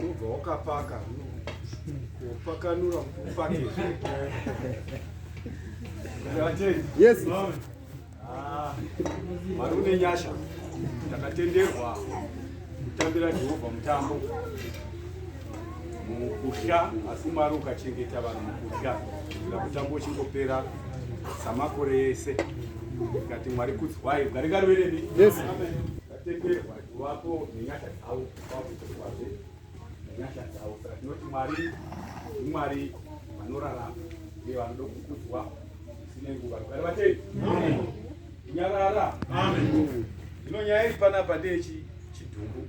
unobva wakapaka kupakanura kuti upake yes ah, mari une nyasha takatenderwa kutambira jehovha mutambo mukusha asi mwari ukachengeta vanhu mukusha kuitira mutambo uchingopera samakore ese Ngati Mwari kuti why ngari ngari wele ni. Yes. Ngatende watu wako nenyasha dzao kwa kutokwazve. Nenyasha dzao. Saka tinoti Mwari Mwari vanorarama uye vanoda kukudzwa zvisine nguva. Ngari vatei. Amen. Nyarara. Amen. Zvino nyaya iri panapa ndeyechi chidhumbu.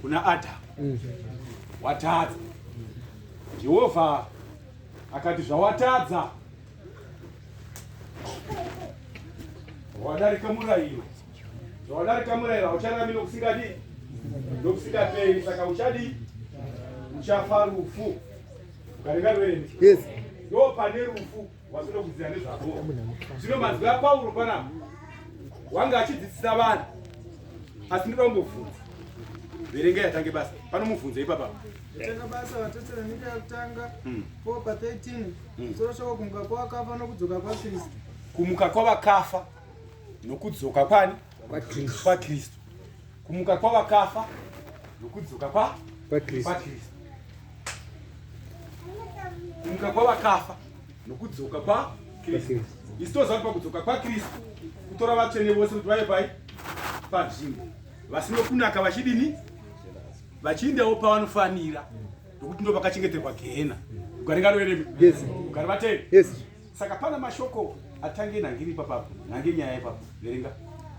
kuna Adamu mm. watadza. Jehovha akati zvawatadza wadarika murayiro, zvawadarika murayiro hauchararami nokusingadi nokusingaperi, saka uchadi uchafa rufu ukarenga rwene. Yes. Ndopane rufu. wazvino kudzidza nezvako zvino mazwi apauro panapa wanga achidzidzisa vanhu asi ndinoda kumbobvunza verenga yatange basa pano mubvunzo ipapa yatanga basa vatetsera nyika yakutanga hmm. po pa 13 hmm. soro shoko kumuka kwavakafa nokudzoka kwakristu kumuka kwavakafa nokudzoka kwani kwakristu kumuka kwavakafa nokudzoka kwa pakristu kumuka kwavakafa nokudzoka kwa kristu isi toziva kuti pakudzoka kwakristu kutora vatsvene vose kuti vave pai panzvimbo vasino kunaka vachidini vachiindawo pavanofanira nokuti ndo vakachengeterwa gehena ugari ngaroere ugari vatei Saka pana mashoko atange nhange iri papapo, nhange nyaya ipapo, verenga.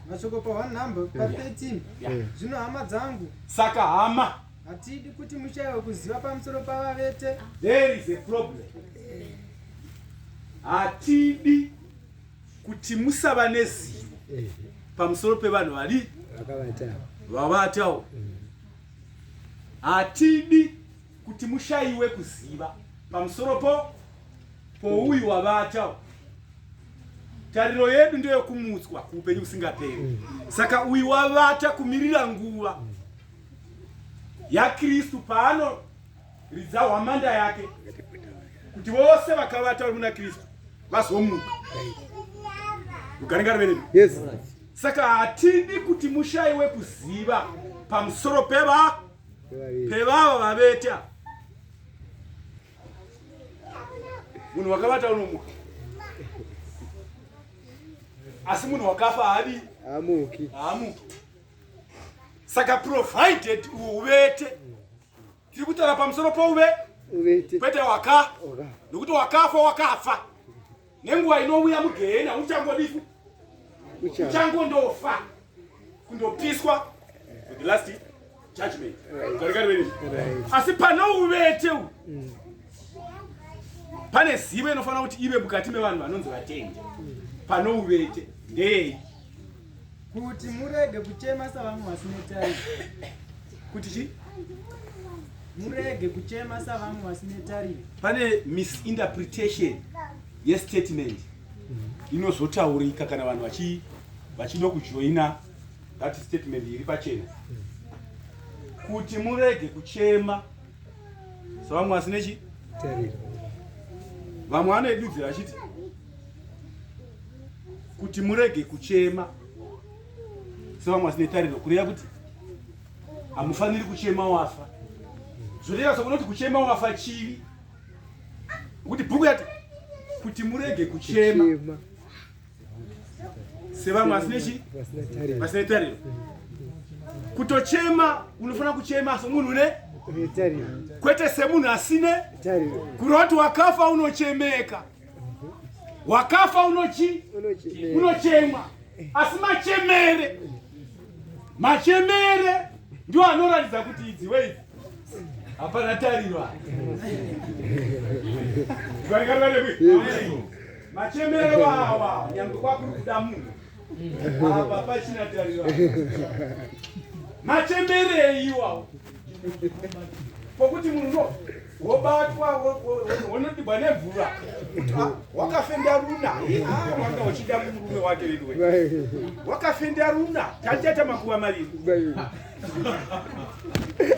Mashoko pa one number, pa 13, yeah. zvino hama dzangu. Saka hama. Hatidi kuti mushaiwe kuziva pamusoro pavavete. There is a problem. Hatidi kuti musava nezivo pamusoro pevanhu vari vavatawo. Hatidi kuti mushaiwe kuziva pamusoro po Ko uyu wavata tariro yedu ndeyokumutswa kuupenyu kusingaperi. Saka uyu wavata kumirira nguva yaKristu paano ridza hwamanda yake kuti vose vakavata vari muna kristu vazomuka ugaringari venemi yes. saka hatidi kuti mushaiwe kuziva pamusoro peva pevava vaveta munhu wakavata unomuka asi munhu wakafa haadi haamuki haamuki saka provided uvete tiri kutaura pamusoro pouve uvete kwete waka nokuti wakafa wakafa Nenguva inouya mugehena uchangodifu uchangondofa kundopiswa with the last judgment right. asi pane uvete u mm. pane zivo inofanira kuti ive mukati mevanhu vanonzi vatendi mm. pane uvete ndeyei kuti murege kuchema savamwe vasine tariro kuti chi murege kuchema savamwe vasine tariro pane misinterpretation yestatement inozotaurika kana vanhu vachi vachida kujoina that statement iri pachena kuti murege kuchema savamwe vasine chi vamwe vanoidudzira vachiti kuti murege kuchema sevamwe vasine tariro kureva kuti hamufaniri kuchema wafa zvoreva sokunoti kuchema wafa chivi kuti bhuku yati kuti murege kuchema sevamwe vasine chi vasine tariro kutochema unofanira kuchema somunhu une kwete semunhu asine kuroti wakafa unochemeka wakafa unochi unochemwa asi machemere machemere ndiwo anoratidza kuti idzi wei hapana tariro machemere wawa nyangwe kwakuri kuda munhu apa pachina tariro machemere iwawo pokuti munhu no wobatwa wonodibwa nemvura wakafenda runa wanga uchida murume wake veduwe wakafenda runa tatiata makuva maviri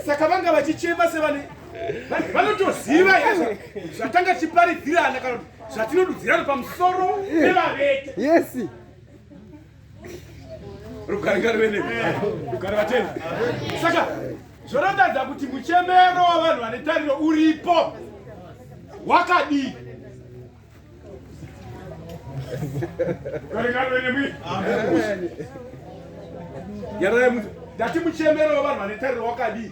saka vanga vachichema sevane vanotoziva izvo zvatanga chiparidzirana kana kuti zvatinodudzirana pamusoro pevavete yes rugare ngarive ne rugare vateni saka zvoratadza kuti muchemero wavanhu vane tariro uripo wakadii yarayamuti ndati muchemero wavanhu vane tariro wakadii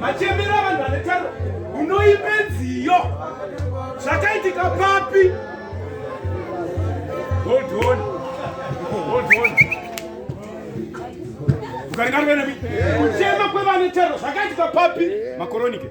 machembera vanhu vane taro unoipe nziyo zvakaitika papi ukaringarovenemi kuchema kwevane taro zvakaitika papi makoronike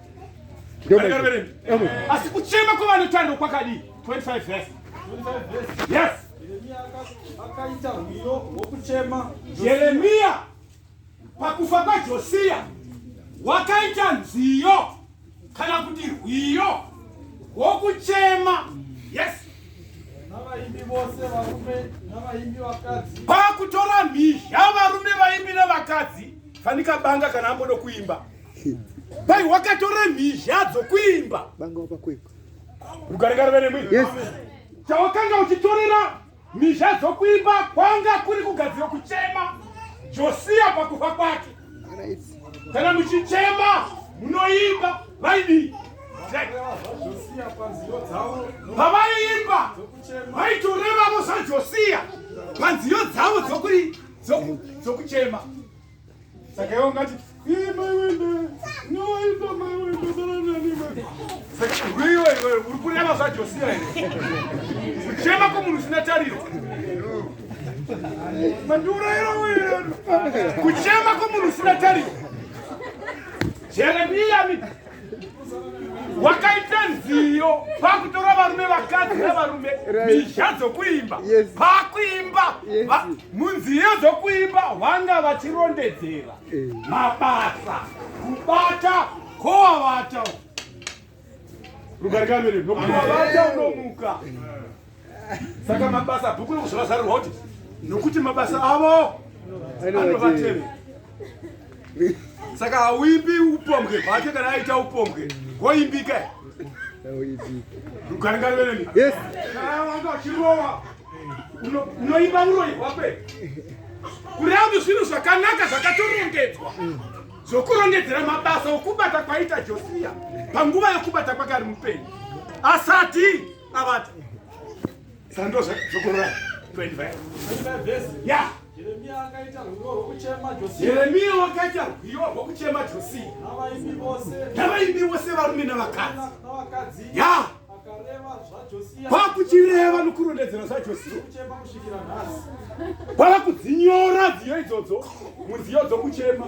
asi kuchema kwavanotariro kwakadii 25 vese yes akaita rwiyo rwokuchema jeremiya pakufa kwajosiya wakaita nziyo kana kuti rwiyo rwokuchema yes navaimbi vose varume navaimbi vakadzi pakutora mhizha varume vaimbi nevakadzi fanika banga kana ambodo kuimba Bai wakatora mhizha dzokuimba. Banga wapa kwekwe. Rugaringari vene mwi. Yes. Chawakanga uchitorera mhizha dzokuimba kwanga kuri kugadzira kuchema Josia pakufa kwake. Kana muchichema munoimba vaidii? Pavaiimba vaitorevavo saJosia panziyo dzavo dzokuchema. Saka iwe ungati iye mai wenda nowaita mai wenda daranani mai. Saka rwiwa iwe uri kureva zvaJosia here? Kuchema kwomunhu usina tariro. Mandiurayira wena. Kuchema kwomunhu usina tariro. Jeremia mimi wakaita nziyo pakutora varume vakadzi nevarume mizha dzokuimba pakuimba munziyo dzokuimba vanga vachirondedzera eh. mabasa kubata kowavata rugarikamirii nokuwavata unomuka saka mabasa bhuku rokuzvavazarirwa kuti nokuti mabasa avo anovateve saka hauimbi upombwe hwake kana aita upombwe hwoimbika rugaringarireni wanga achirova unoimba uroi hwakwe kuramba zvinhu zvakanaka zvakatorongedzwa zvokurongedzera mabasa okubata kwaita josiya panguva yokubata kwake ari mupenyu asati Abata. Sando zvokorora 25. Yeah. Jeremia wakaita rwiyo rwokuchema Josia. Jeremia wakaita rwiyo rwokuchema Josia. Navaimbi vose. Navaimbi vose varume navakadzi. Navakadzi. Yeah. kwakuchireva nokurondedzera zvajosia kwava kudzinyora dziyo idzodzo munziyo dzokuchema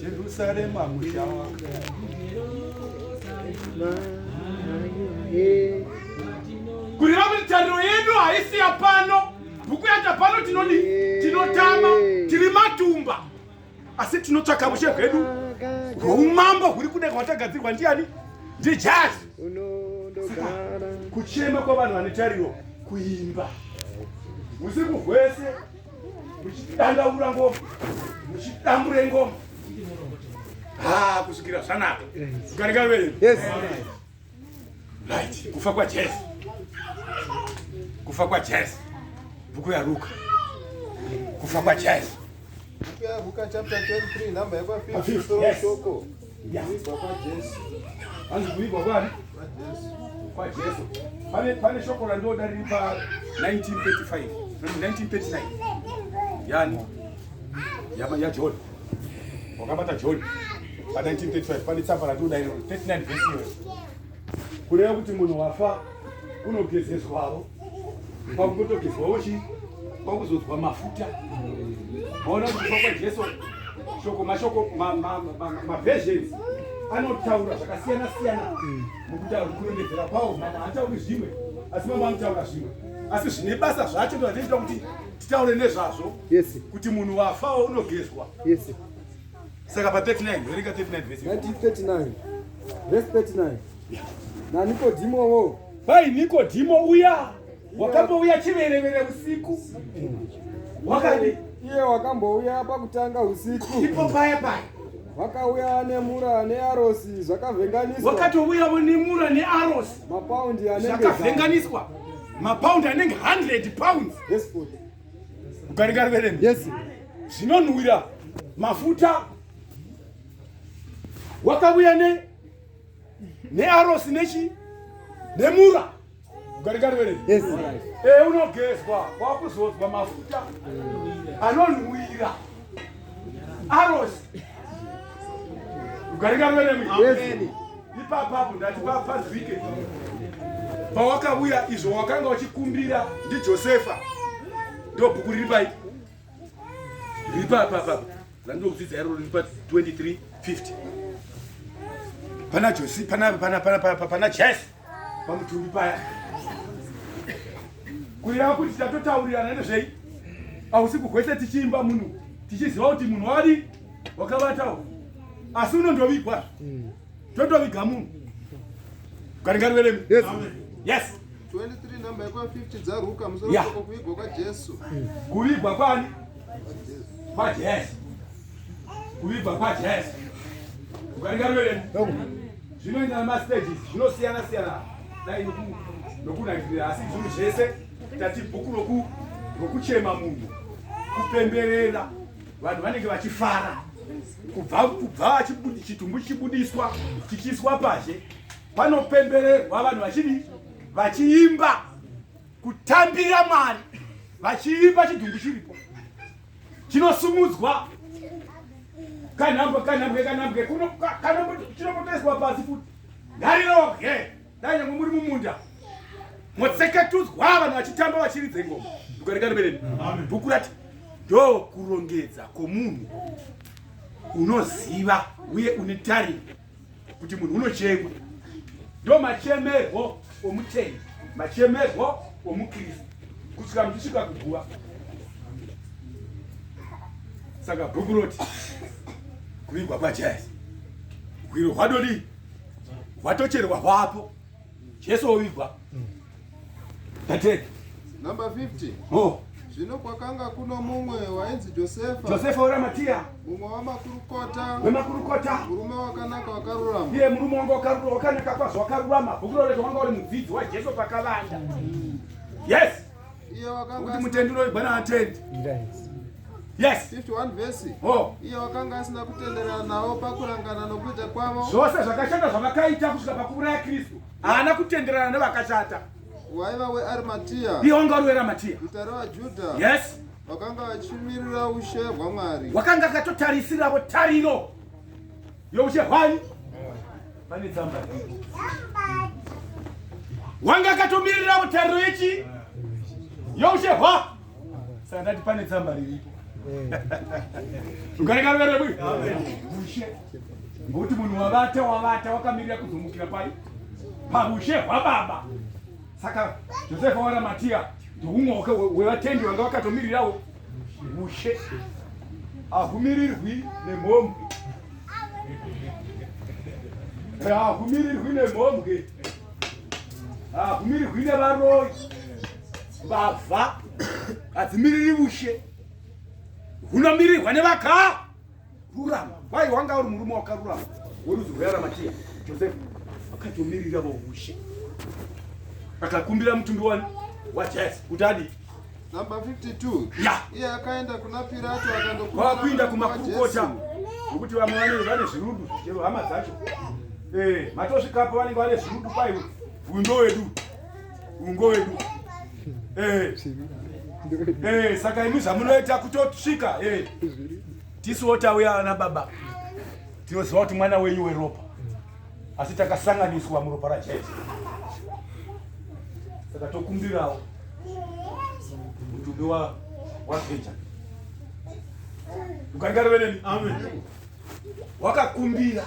Jerusalema musha wako kureva kuti tariro yedu haisi yapano bhuku yacho pano tinodi tinotama tiri matumba asi tinotsvaka mushe hwedu hwoumambo huri kuda kwatagadzirwa ndiani ndijazi kuchema kwavanhu vane tariro kuimba usiku hwese muchidandaura ngoma muchidambure ngoma ha kusvikira zvanaka garikavei right kufa kwajesu kufa kwajesu bhuku yaruka kufa kwajesu Luka chapter 23 number 15 soko Kuibva kwaJesu. Hanzi kuibva kwani? KwaJesu. Pane pane shoko randoda riri pa 1935. 1939. Yani. Yama ya John. Wakabata John. Pa 1935 pane tsamba randoda iro 39 verse. Kureva kuti munhu wafa unogezeswawo kwakutogezwawo chii kwakuzodzwa mafuta maona kuti kufa kwajesu shoko mashoko maversions anotaura zvakasiyana siyana mukutaura kurondedzera kwawo mama hatauri zvimwe asi mama anotaura zvimwe asi zvine basa zvacho ndoatiita kuti titaure nezvazvo kuti munhu wafawo unogezwa saka pa 39 verenga 39 vesi 39 vesi 39 nanikodhimowo bai nikodhimo uya wakambouya chiverevere usiku wakadi iye wakambouya pakutanga usiku ipo paya paya vakauya nemura nearosi zvakavhenganiswa vakatouyavo nemura nearosi mapaundi anezvakavhenganiswa mapaundi anenge 100 pounds ukarikarivereni yes zvinonhuwira mafuta wakauya ne nearosi nechi nemura ugarikareere yes. e, eh, unogezwa kwakuzodzwa mafuta anonhuwira arosi ugarikareere yes. ipapapo ndati papazike pawakauya izvo wakanga uchikumbira ndijosefa ndobhuku riri paipo ripa apa apa randinokudzidza iro riri pa 2350 pana josi pana pana pana pana pana jes pamutumbi paya kureva kuti tatotaurirana nezvei ausiku hwese tichiimba munhu tichiziva kuti munhu wadi wakavatawo asi unondovigwa totoviga munhu garingarireremi yes, yes. 23 number yako 50 dzaruka musoro yeah. kuvigwa kwa Jesu. Kuvigwa kwani? Kwa Jesu. Kuvigwa kwa Jesu. Ukaringa mbele. Zvino ina ma stages zvinosiyana siyana. Dai noku nokunakira asi zvinhu zvese tati bhuku roku rokuchema munhu kupemberera vanhu vanenge vachifara kubva kubva chitumbu chichibudiswa chichiiswa pazhe Panopembererwa vanhu vachidi vachiimba kutambira Mwari vachiimba chidhumbu chiripo chinosumudzwa kanhambwe kanhambwe kanhambwe kuno chinopotoiswa pasi futi ngariroge dai nyangwe muri mumunda motseketudzwa vanhu vachitamba vachiridze ngoma ndikarikaribeleni bhuku rati ndo kurongedza kwomunhu unoziva uye une tariro kuti munhu unochemwa ndo machemerwo omutendi machemerwo omukristu kusvika muchisvika kuguva saka bhuku roti kuvigwa kwajazi hwiro hwadodii hwatocherwa hwapo Jesu ovigwa. Dated. Number 50. Oh. Zvino kwakanga kuno mumwe wainzi Josefa. Josefa weraMatia. Mumwe wamakurukota. Wemakurukota. Murume wakanaka wakarurama. Iye murume wanga wakanaka kwazvo wakarurama. Bhuku rorezvo wanga uri mudzidzi waJesu pakavanda. Yes. kuti mutendi unoigwa naatendi yes oh. iye wakanga asina kutenderana navo pakurangana nokuita kwavo zvose zvakashata zvavakaita kusvika pakuuraya kristu haana kutenderana nevakashata waiva wearimatiya iye wanga uri weramatiya guta revajudha yes wakanga vachimirira ushe hwamwari wakanga akatotarisiravo tariro yokushe hwani pane tsamba wanga akatomirira mutariro yechi yokushe hwa saka ndati pane tsamba riripo ukareka ruvero rwekuti ushe ngokuti munhu wavata wavata wakamirira kuzomukira pai paushe hwababa saka josefa waramatiya ndoumwe wevatendi wanga wakatomirirawo mushe ahumirirwi nemhombwe ahumirirwi nemhombwe ahumirirwi nevaroyi mbavha hadzimiriri mushe hunomirirwa nevakaa rurama wai wanga uri murume wakarurama worudzi rwearamatiya josefa akatomirira vaushe akakumbira mutumbi wani wajesu kuti adii Number 52. Yeah. Iye akaenda kuna Pirato akandokumbira. Wakuinda kumakurukota. Ngokuti vamwe vane vane zvirudu chero hama dzacho. Eh, matosvikapo vanenge vane zvirudu pai uyu ndo wedu. ungo wedu eh eh saka imi zvamunoita kutosvika eh tisu wotauya ana baba tinoziva kuti mwana wenyu weropa asi takasanganiswa muropa rajesu saka tokumbirawo mutumbi wapeja ukangarove neni amen wakakumbira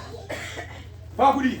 pakudii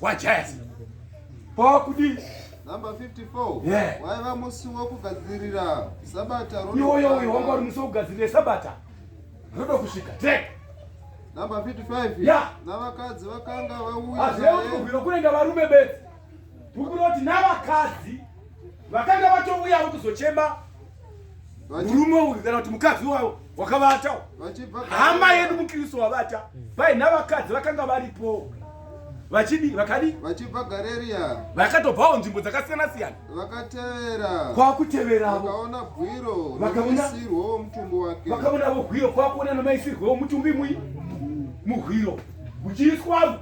wajaya po kudii number 54 yeah. waiva musi wekugadzirira sabata iwoyo uyo wanga uri musi wekugadzirira sabata roda kusvika tek number 55 yeah. navakadzi vakanga vauyazvekubvira kunenge varume bedzi ukuroti navakadzi vakanga vatouyawo kuzochema murume uyu kana kuti mukadzi wavo wakavata hama yedu mukristu wavata paina vakadzi vakanga varipo vachidi vakadi vachibva gareria vakatobvawo nzvimbo dzakasiyana siyana vakatevera kwakuteveravo vakaona gwiro namaisirwo mutumbi wake vakaonavo gwiro kwakuona namaisirwo womutumbi mui muhwiro muchiiswavo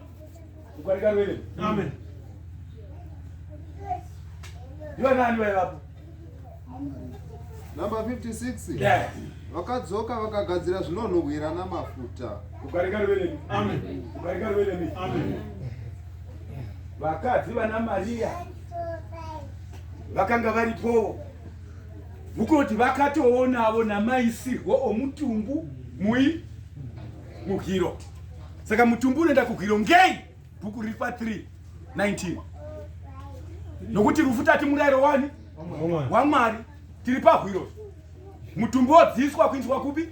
ukarikaruerei amen ndivanani vaivapo Number 56. Yes. Vakadzoka vakagadzira zvinonhuhwira namafuta. Ukarika rwelemi. Amen. Ukarika rwelemi. Amen. Vakadzi vana Maria vakanga varipowo vukoti vakatoonavo namaisirwo omutumbu mui muhiro saka mutumbu unoenda kuhwiro ngei bhuku riri pa 3 19 nokuti rufu tati murayiro wani wamwari tiri pahwiro mutumbi wodziiswa kuindiswa kupi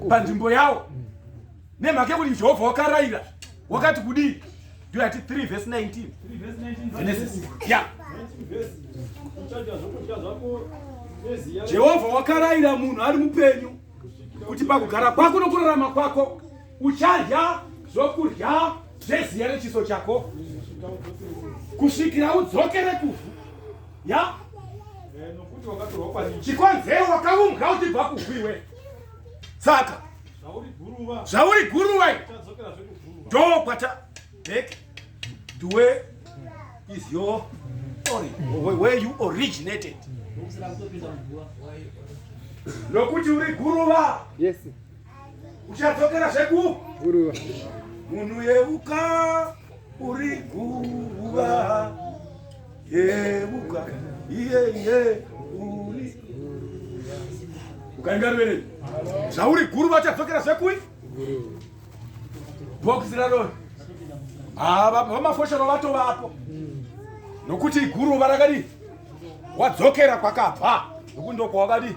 panzvimbo yawo nemhaka yekuti jehovha wakarayira wakati kudii ndoyati 3 vhesi 19 genesis ya jehovha wakarayira munhu ari mupenyu kuti pakugara kwako nokurarama kwako Uchadya zvokudya zveziya rechiso chako kusvikira udzokere kuvhu ya chikonzero wakaumbwa uchibva kuvhu iwe saka zvauri guruva ndo kwata back to where is your origin where you originated lokuti uri guruva yes uchadzokera zveku guruva munhu yeuka uri guruva yeuka iye iye uri ukaenda ruvere zvauri guruva uchadzokera zvekui bhokisi raroi ah, vamafoshero vatovapo nokuti guruva rakadii wadzokera kwakabva nokuti ndokwawakadii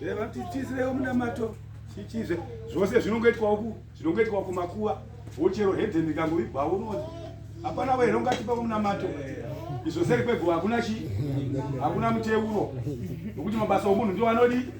Reva tichizirewo munamato chichize zvose zvinongoitwa uku zvinongoitwa kumakuva wochero hedheni kangoigwa unozi hapana we ringatipa munamato izvo seri kweguva hakuna chi hakuna muteuro nokuti mabasa omunhu ndiwo anodii